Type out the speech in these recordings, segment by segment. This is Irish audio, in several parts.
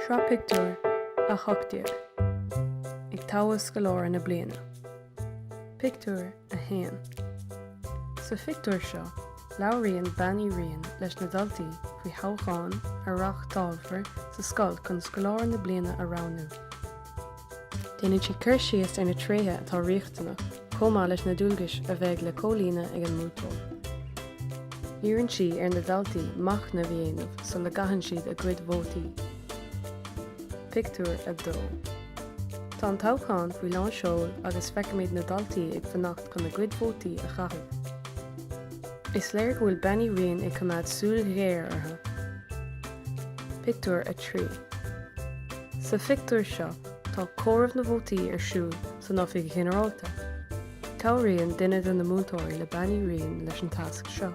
Sraith Pictiúr 18 Ag Toghadh Scoláire na Bliana Pictiúr 1 Sa phictiúr seo, labhraíonn Bean Uí Riain leis na daltaí faoi thoghchán a reáchtálfar sa scoil chun Scoláire na Bliana a roghnú. Déanann sí cur síos ar na tréithe atá riachtanach chomh maith leis na dualgais a bheidh le comhlíonadh ag an mbuaiteoir. Iarrann sí ar na daltaí machnamh a dhéanamh sula gcaitheann siad a gcuid vótaí. Pictiúr 2. Tá an toghchán faoi lán seoil agus feicimid na daltaí ag fanacht chun a gcuid vótaí a chaitheamh. Is léir go bhfuil Bean Uí Riain ag coimeád súil ghéar orthu. Pictiúr 3 Sa phictiúr seo tá comhaireamh na vótaí ar siúl san Oifig Ghinearálta. Cabhraíonn duine de na múinteoirí le Bean Uí Riain leis an tasc seo.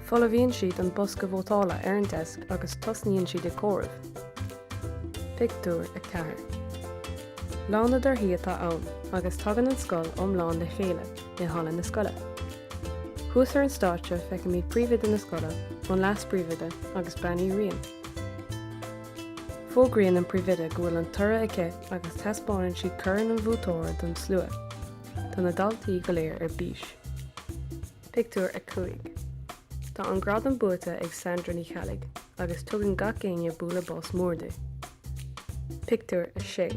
Folmhaíonn siad an bosca vótála ar an deasc agus tosnaíonn siad ag comhaireamh. Pictiúr 4 Lá na dtorthaí atá ann agus tagann an scoil iomlán le chéile. i halla na scoile. Thuas ar an stáitse feicimid príomhoide na scoile, an leas-phríomhoide agus Bean Uí Riain. Fógraíonn an príomhoide go bhfuil an toradh aici agus taispeánann sí corn an bhuaiteora don slua. Tá na daltaí go léir ar bís. Pictiúr 5 Tá an gradam buaite ag Sandra Ní Cheallaigh agus tugann gach éinne bualadh bos mór di. Pictiúr 6.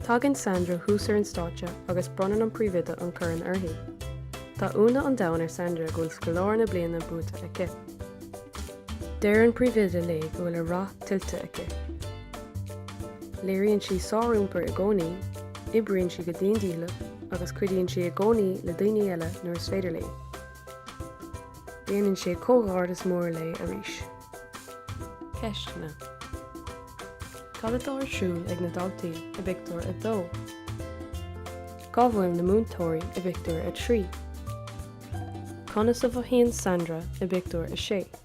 Tagann Sandra thuas ar an stáitse agus bronnann an Príomhoide an corn uirthi. Tá ionadh an domhain ar Sandra go bhfuil scoláire na bliana buaite aici. Deir an Príomhoide léi go bhfuil an rath tuillte aici. Léiríonn sí sáriompar i gcónaí, oibríonn sí go dian dícheallach agus cuidíonn sí i gcónaí le daoine eile nuair is féidir léi. Déanann sí comhghairdeas mór léi arís. Ceisteanna Cad atá ar siúl ag na daltaí i bpictiúr 2? Cá bhfuil na múinteoirí i bpictiúr 3? Conas a mhothaíonn Sandra i bpictiúr 6?